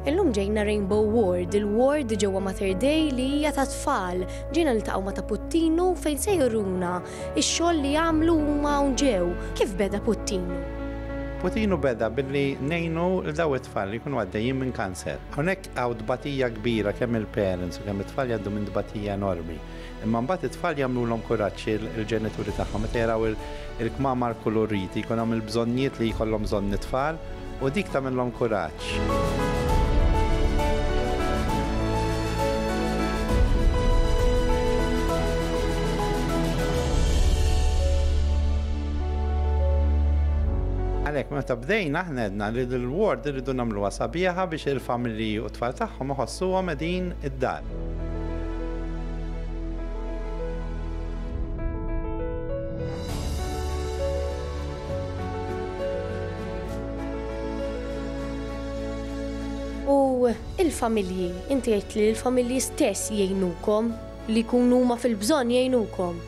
Illum ġejna Rainbow Ward, il-ward ġewwa Mater Dei li hija ta' tfal. Ġejna niltaqgħu ma' ta' Puttinu fejn se juruna x-xogħol li għamlu huma hawn ġew. Kif beda Puttinu? Puttinu beda billi ngħinu lil dawn it-tfal li jkunu għaddejjin minn kanser. Hawnhekk hawn tbatija kbira kemm mill-parents u kemm it-tfal jgħaddu minn tbatija enormi. Imma mbagħad it-tfal jagħmlulhom kuraġġ il-ġenituri tagħhom meta jaraw il-kmamar kulurriti, jkun hawn il-bżonnijiet li jkollhom bżonn it-tfal u dik tagħmilhom kuraġġ. Għalhekk meta bdejna aħna għedna li l-ward irridu nagħmluha sabiħa biex il-familji u t-tfal tagħhom iħossuhom qegħdin id-dar. U il-familji, inti għidt li l-familji stess jgħinukom, li jkunu huma fil-bżonn jgħinukom.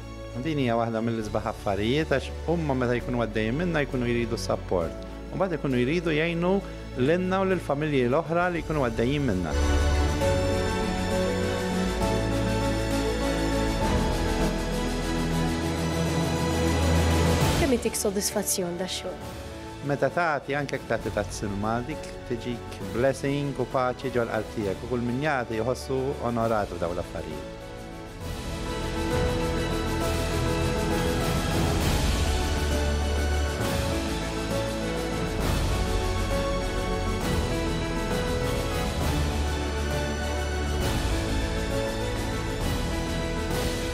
Din hija waħda mill-isbaħ affarijiet għax huma meta jkunu għaddejjin minnha jkunu jridu s-sapport. U mbagħad ikunu jridu jgħinu Lilna u lill-familji l-oħra li jkunu għaddejjin minnha. Kemm jtik sodisfazzjon da xogħol? Meta tagħti anke jekk tagħti tazz-silma dik tiġik blessing u paċi ġol qalb tiegħek u kull min jagħti jħossu onorat f'dawn l-affarijiet.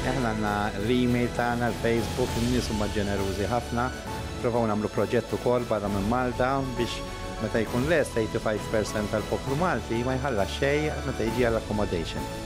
Aħna għandna l-email tagħna, l-Facebook, in-nies huma ġenerużi ħafna. Provaw nagħmlu proġett ukoll barra minn Malta biex meta jkun lest 85% tal-poplu Malti ma jħallas xejn meta jiġi għall-accommodation.